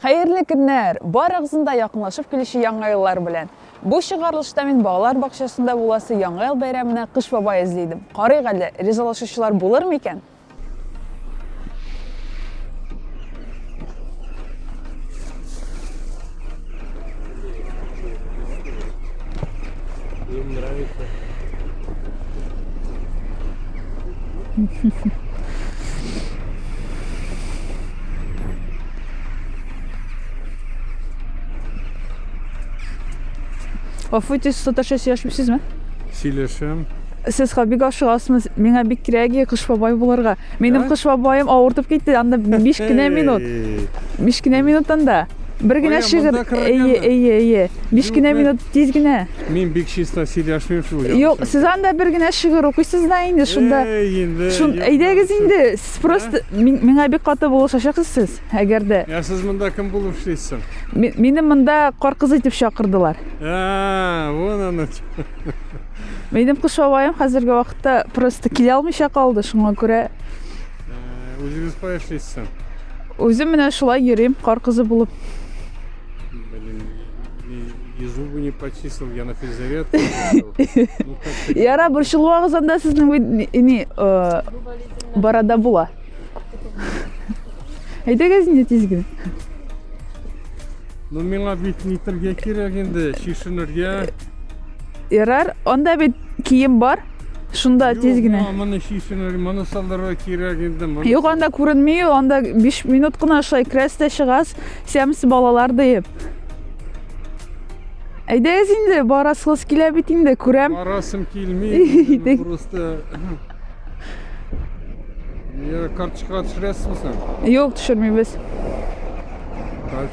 Хәерле көннәр! Барыгызны да якынлашып килүче яңа еллар белән. Бу чыгарылышта мин балалар бакчасында буласы яңа ел бәйрәменә Кыш бабай эзли идем. Карыйк әле, ризалашучылар булыр микән? Им нравится. Гафу итегез, саташа сөйләшмисезме? Сөйләшәм. Сез хоббига ашыгасыз, миңа бик кирәк кыш бабай булырга. Минем кыш бабаем авыртып китте, анда 5 кенә минут. 5 кенә минут анда. Бер генә шигырь. Әйе, әйе, әйе. 5 кенә минут тиз генә. Мин бик чиста сөйләшмим шул. Юк, сез анда бер генә шигырь укыйсыз да инде шунда. Шун әйдәгез инде. Сез просто миңа бик каты булышачаксыз сез, әгәр дә. Я сез монда кем булып эшлисез? Минем монда кар кызы дип чакырдылар. А, вон оно. Минем кыш бабаем хәзерге вакытта просто килә алмыйча калды, шуңа күрә. Э, Үзегез кая эшлисез? Үзем менә шулай йөрим, кар кызы булып. Блин, и зубы не почистил, я на физзарядку. Ну, Яра, борчылмагыз анда сезнең не э, барада була. Әйдәгез инде тиз генә. Ну, миңа бит нитергә кирәк инде, шишенергә. Ярар, анда бит кием бар. Шунда тиз генә. Юк, моны чишен, моны салдырырга кирәк инде. Юк, анда күренми, анда 5 минут кына шулай керәс тә чыгас, сәмс балалар диеп. Әйдәгез инде, барасыгыз килә бит инде, күрәм. Барасым килми, просто... Я карточка төшерәсезме сен? Юк, төшермибез.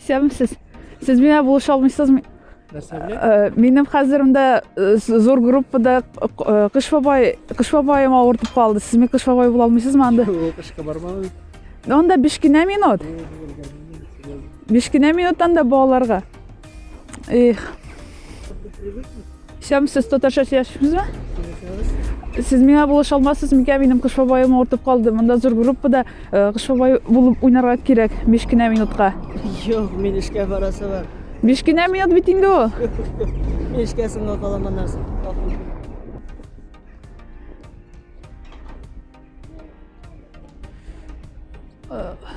Исәнмесез. Сез миңа булыша алмыйсызмы? Нәрсә белән? Э, минем хәзеремдә э, зур группада э, Кыш бабай, Кыш бабаем авыртып калды. Сез миңа Кыш бабай була алмыйсызмы анда? Кышка бармадым. Анда 5 кенә минут. 5 кенә минуттан да балаларга. Их. Сәмсез татарча сөйләшүзме? Сез миңа булыша алмассыз микән? Минем кыш бабаем авыртып калды. Монда зур группада э, кыш бабай булып уйнарга кирәк 5 кенә минутка. Юк, мин эшкә барасы бар. 5 кенә минут бит инде ул. Мин эшкә соңга калам аннан соң. Ugh.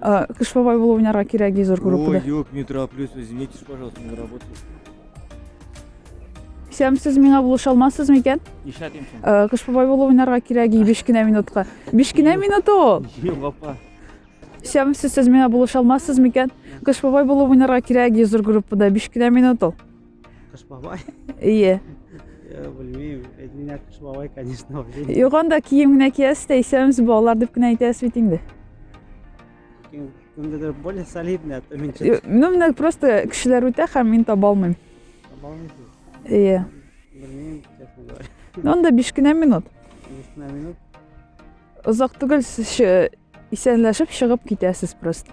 А, Кыш бабай булып уйнарга кирәк ди зур группада. Ой, юк, не тороплюсь, извините, пожалуйста, на работу. Сәм, сез миңа булыша алмассыз микән? Нишләп имсен? Э, Кыш бабай булып уйнарга кирәк ди 5 кенә минутка. 5 кенә минут ул. Юк, апа. Сәм, сез сез миңа булыша алмассыз микән? Кыш бабай булып уйнарга кирәк ди зур группада 5 кенә минут ул. Кыш бабай. Ие. Я белмим, әйтминә кыш бабай, конечно. Юк, анда кием генә киясез дә исәмез балалар дип кенә әйтәсез бит инде. Кемдедер более солидный, а то мин чын. Ну, менә просто кешеләр үтә һәм мин таба алмыйм. Таба алмыйсыз? Ие. Белмим, честно говоря. Ну, анда 5 кенә минут. 5 кенә минут. Озак түгел сез исәнләшеп чыгып китәсез просто.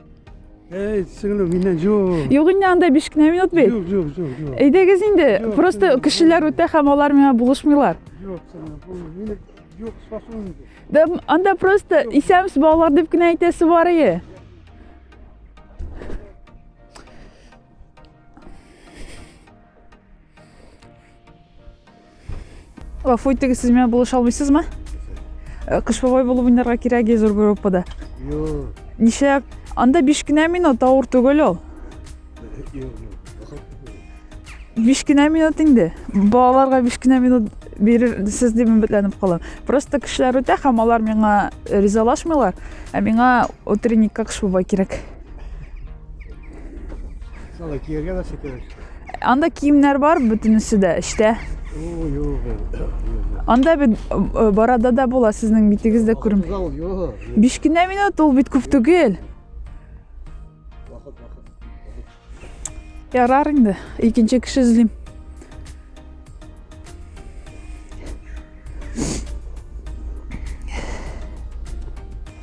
Эй, сеңлем, миннән юк. Юк инде анда 5 кенә минут бит. Юк, юк, юк, юк. Әйдәгез инде. Просто кешеләр үтә һәм алар миңа булышмыйлар. Юк, сеңлем, бу мине юк, спасу инде. Да, анда просто исәмс балалар дип кенә әйтәсе бар ие. Гафу итегез, сез менә булыша алмыйсызмы? Э, Кыш бабай булып уйнарга кирәк зур группада. Юк. Нишләп? Анда 5 кенә минут авыр түгел ул. Юк, юк. 5 кенә минут инде. Балаларга 5 кенә минут бирерсез дип өметләнеп калам. Просто кешеләр үтә һәм алар миңа ризалашмыйлар, ә миңа утренникка кыш бабай кирәк. Сала киергә нәрсә кирәк? Анда киемнәр бар бөтенесе дә эчтә. Анда бит э, барада да була сезнең битегез дә күрен. Биш кенә минут ул бит күп түгел. Ярар инде, икенче кеше эзлим.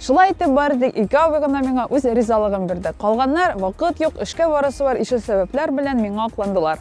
Шулай итеп бардык, ике абый гына миңа үз ризалыгын бирде. Калганнар вакыт юк, эшкә барасы бар ише сәбәпләр белән миңа акландылар.